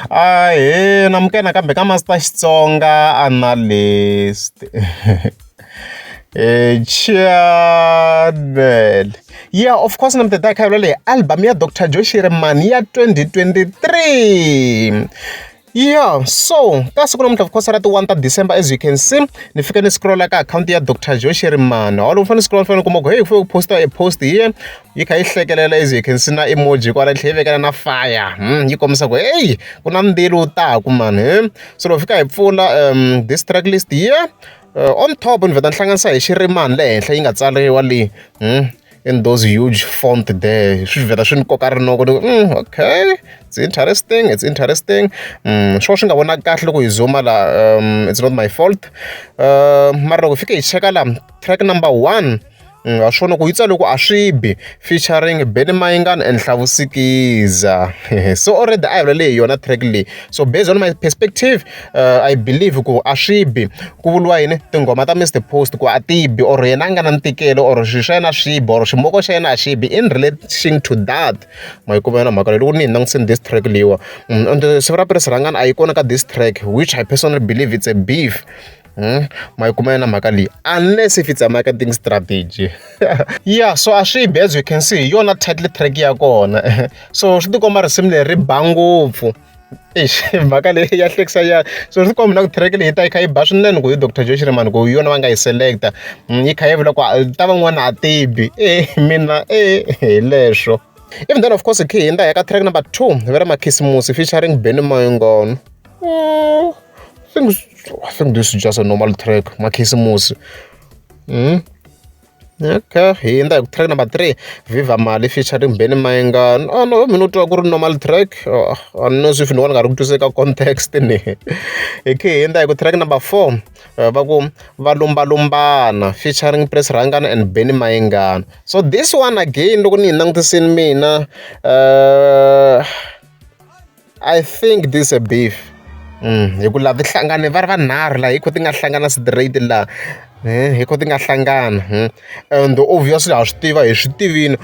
Ahee namukela nakambe ka Master Xitsonga Analyst Chaanel ya of course na mi ta khayelo leyi album ya Doctor Joe Shirimani ya 2023 ya so ka siku namuntlha of course ra ti-one ta December as you can see ni fike ni scrolla ka akhawunti ya Doctor Joe Shirimani holo u fanele u scrolla u fanele u kuma ku heyi ku fike ku post-a e post hi yena yi kha yi hlekelela as you can see na emoji kwala yi tlhela yi vekela na fire yi kombisa ku heyi ku na mbilo wu taku mani so loko fika hi pfula um this track list here uh, on top ni vheta ni hlanganisa hi xirimani le henhla yi nga tsariwa leyi in those huge font there swi vheta swi ni koka rinoko ni mm, okay it's interesting it's interesting mm, swo swi nga vonaki kahle loko hi zuma la um, it's not my fault uh, mara loko hi fike hi cheka la track number one ha swona ku yi tsale ku a swi bi featuring Benny Mayengani and Hlavu Sikiza so already a hi vula leyi yona track leyi so based on my perspective uh, I believe ku a swi bi ku vuriwa yini tinghoma ta Mr Post ku a ti bi or yena a nga na ntikelo or swilo swa yena a swi bi or ximoko xa yena a xi bi in relation to that ma yi kuma yona mhaka leyi loko ni hi langutiseni this track leyiwa mm, and siku ra pirisi rhangani a yi kona ka this track which I personally believe it's a beef ma yi kuma yona mhaka leyi unless if it's a marketing strategy ya so a swi bi as you can see hi yona title track ya kona so swi ti komba risimu leri ri ba ngopfu eish mhaka leyi ya hlekisa ya so swi komba na ku track leyi ta yi kha yi ba swinene ku hi doctor joe shirimani ku hi yona va nga yi selecta mm, yi kha yi vula ku ta van'wana a tibi e mina e hi leswo even then of course hi khe hi endla hi ka track number two va ri makhisimusi featuring benny moyingono Oh, I think I think this is just a normal track makhisimusi mm? okay hi endla hi ku track number three viva mali featuring benny mainga oh, no mina u twa ku ri normal track oh, i no swi fini wona nga ri ku twiseka context ni hi khe hi endla hi ku track number four eh, va ku va lumbalumbana featuring press rangana and benny maingana so this one again loko ni yi langutisini mina uh, I think this a beef hikuva ti hlangane va ri vanharhu laha hi ku ti nga hlangana straight laha hi ku ti nga hlangana and obviously ha swi tiva hi swi tivini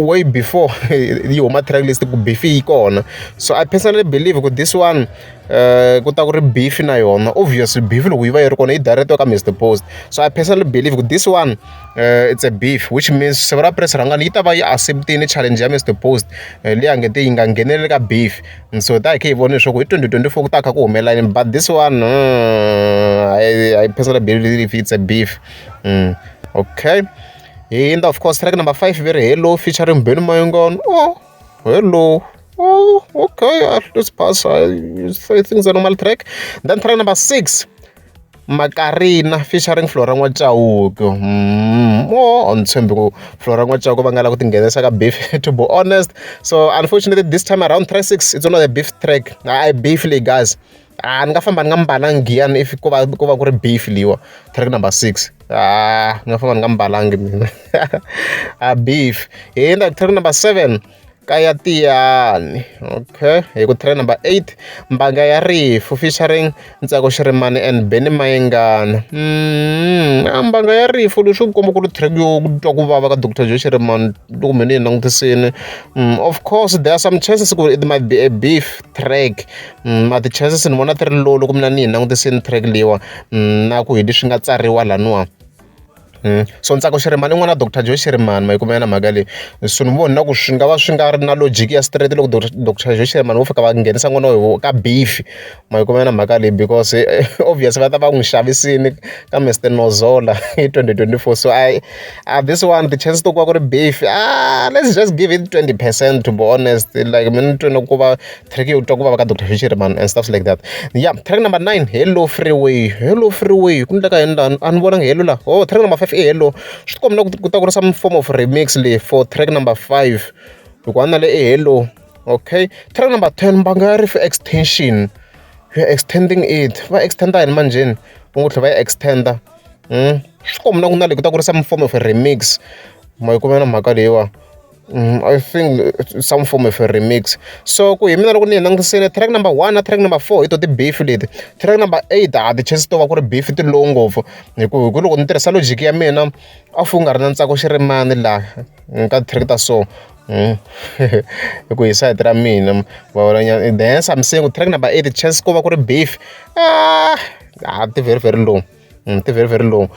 way before yi huma track list ku beef yi kona so I personally believe ku this one ku ta ku ri beef na yona obviously beef loko yi va yi ri kona yi dayireteriwa ka Mister Post so I personally believe ku this one. it's a beef which means siku ra press run yi ta va yi accept-ini challenge ya Mister Post leyi a nge te yi nga ngheneleli ka beef and so hi ta hi kha hi vona leswaku hi twenty twenty four ku ta kha ku humelela yini but this one I, I personally believe it's a beef mm. okay and of course track number five very hello featuring Benny Mayengani oh hello oh, okay, let's pass. I, I think it's a normal track. Then track number six. Makarina featuring Flora N'wa Chauke a ni tshembi ku Flora N'wa Chauke va nga lava ku tinghenisa ka beef to be honest so unfortunately this time around track six it's not a beef track a hi beef leyi guys a ni nga famba ni nga mbalanga giya ni if ko va ko va ku ri beef leyiwa track number six a ni nga famba ni nga mbalanga mina a beef hi hundza track number seven. ka ya tiyani okay hi ku train number eight mbanga ya rifu featuring Ntsako Xirimani and Benny Mayengani a mbanga ya rifu leswi ku komba ku ri track yo ku twa ku vava ka Doctor Joe Xirimani loko me ni yi langutisini mm, of course there are some chances ku it might be a beef track mm, ma ti-chances ni vona ti ri low loko mina ni yi langutisini track leyiwa mm, na ku hi leswi nga tsariwa laniwa So Ntsako Shirimani i n'wana wa doctor Joe Shirimani ma yi kuma yona mhaka leyi. So ni vona ku swi nga va swi nga ri na logic ya straight loko doctor Joe Shirimani vo fika va nghenisa n'wana wa vona ka beef-i. Ma yi kuma yona mhaka leyi because obvious va ta va n'wi xavisile ka Mister Nozola hi twenty twenty four. So I I this one ti-chance to ku va ku ri beef-i let's just give it twenty percent to be honest like mina ni twela ku va. track yo twa ku vava ka Doctor Fisherman and stuff like that ya track number nine hello freeway hello freeway ku endleka yini laha a ni vonangi hello laha oh track number five i hello swi tikomba na ku ta ku ri some form of remix leyi for track number five hikuva na le i hello okay track number ten mbanga ya ri for extension we are extending it va extenda yini manjheni va ngo tlhela va yi extenda hmm? swi komba na ku na le ku ta ku ri some form of remix ma yi kumela mhaka leyiwa I think some form of remix so ku hi mina loko ni yi langutisile track number one na track number four hi tona ti-beef leti track number eight a ti chance to va ku ri beef ti low ngopfu hi ku hi ku loko ni tirhisa logic ya mina a wu nga ri na ntsako xirimani laha ka ti-track ta so hmm. hi ku hi sayiti ra mina vavalanyana the hence I'm saying track number eight chance ko va ku ri beef ah a ti very very low. ti very very long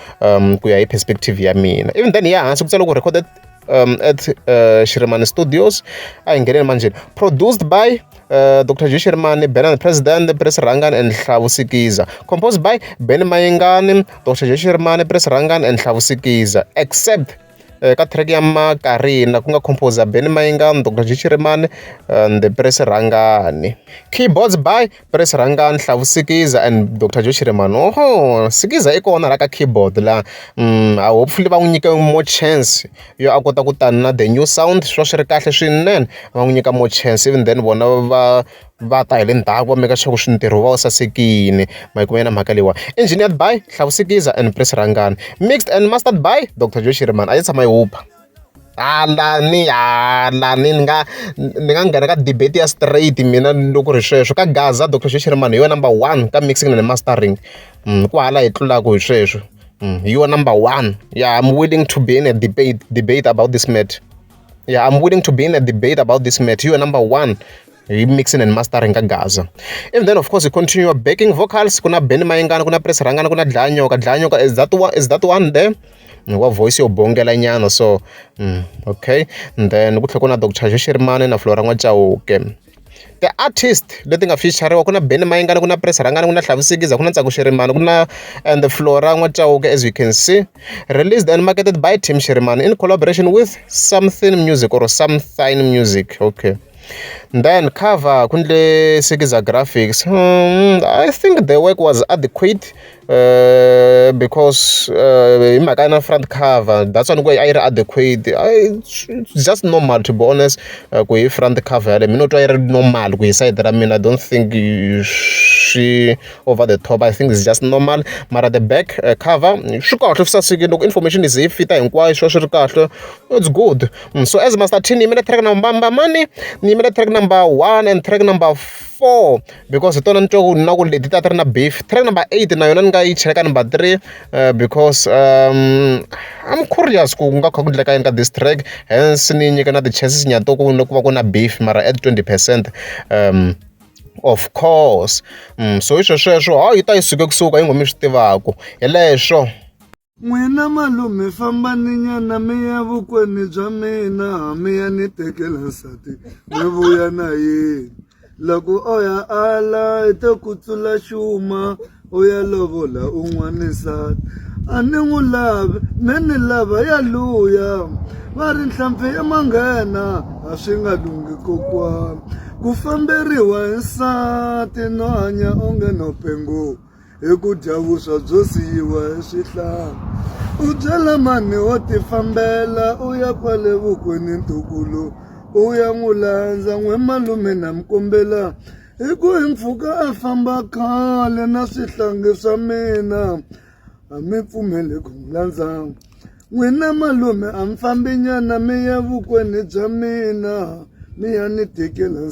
ku ya hi perspective ya mina even then ya hansi ku tsala ku recorded um, at uh, Shirimani Studios a hi ngheneni manjheni produced by uh, Dr. J Shirimani Benan President Pres Rangan and Hlavu Sikiza composed by Ben Mayengani Dr. J Shirimani Pres Rangan and Hlavu Sikiza except kha track ya makarina ku nga composer Benny Mayengani, Doctor G Chiremane and the Puresi Rhangani. Keyboards by Puresi Rhangani, Hlavu Sikiza and Doctor Joe Chiremane. Oho, Sikiza i kona la ka keyboard la mm, ah, hopefully va n'wi nyike more chance yo a kota ku tana na the new sound swi va swi ri kahle swinene va n'wi nyika more chance even then vona va va ta hi le ndzhaku va make sure ku swi ntirho wu va wu sasekile. Ma yi kuma yona mhaka leyiwani. Engineered by Hlavu Sikiza and Prince Rhangani. Mixed and mastered by Doctor Joe Shirimani. A yi tshama yi huba. Hala ni hala ni ni nga ni nga nghena ka debate ya straight mina loko ku ri sweswo. Ka Gaza Doctor Joe Shirimani hi yona number one ka mixing na mastering. Ku hava laha hi tlulaka hi sweswo. Hi yona number one. Yeah I'm willing to be in a debate debate about this matter. Yeah, I'm willing to be in a debate about this matter. You are number one. mixing and mastering ka gaza and then of course you continue backing vocals kuna ben mayengana kuna press rangana kuna dlanyoka dlanyoka is that one is that one there wa voice yo bongela nyana so mm, okay and then ku tlhe ku na dr xexerimane na flora n'wacauke Ti-artist leti nga feature-iwa ku na Benny Mayengani, ku na Prince Rhangani, ku na Hlavisi Sikiza, ku na Ntsako Shirimani, ku na and Flora N'wa Chauke as you can see. Released and marketed by Team Shirimani in collaboration with Something Music or Something Music okay. Then cover ku endle Sikiza Graphics I think the work was adequate. because hi mhaka ya na front cover that's why ni ku a yi ri adequate it's just normal to be honest ku hi front cover yaleyo me ni twa yi ri normal ku hi sayiti ra mina I don't think swi over the top I think it's just normal mara the back cover swi kahle swi sasekile loko information yi ze yi fita hinkwayo swi va swi ri kahle it's good so as Master T ni yimela track number mani ni yimela track number one and track number four. because hi tona ni twa ku na ku leti ta ti ri na beef track number eight na yona ni nga yi chela ka number three uh, because um, i'm curious ku nga kha ku ndleka yini ka this track hence ni nyika na ti-chances nyato ku ku va ku na beef mara at 20 percent um of course mm, so hi swesweswo hawu yi ta yi suke kusuka yi ngo mi swi tivaku hi leswo N'wina malume famba ni nyana mi ya vukweni bya mina mi ya ni tekela nsati mi vuya na yini loko o ya ala i ta ku tlula xuma u ya lovola un'wana nsati a ni n'wi lavi me ni lava ya luya va ri nhlampfi i manghena a swi nga lungi kokwana ku famberiwa hi nsati no hanya onge no penguka. hi ku dya vuswa byo siyiwa hi swihlala u byela mani wo tifambela u ya kwale vukweni ntukulu u ya n'wi landza n'we malume na mi kombela hi ku hi mpfhuka a famba khale na swihlangi swa mina a mi pfumeli ku mi landza n'wina malume a mi fambi nyana mi ya vukweni bya mina mi ya ni tikela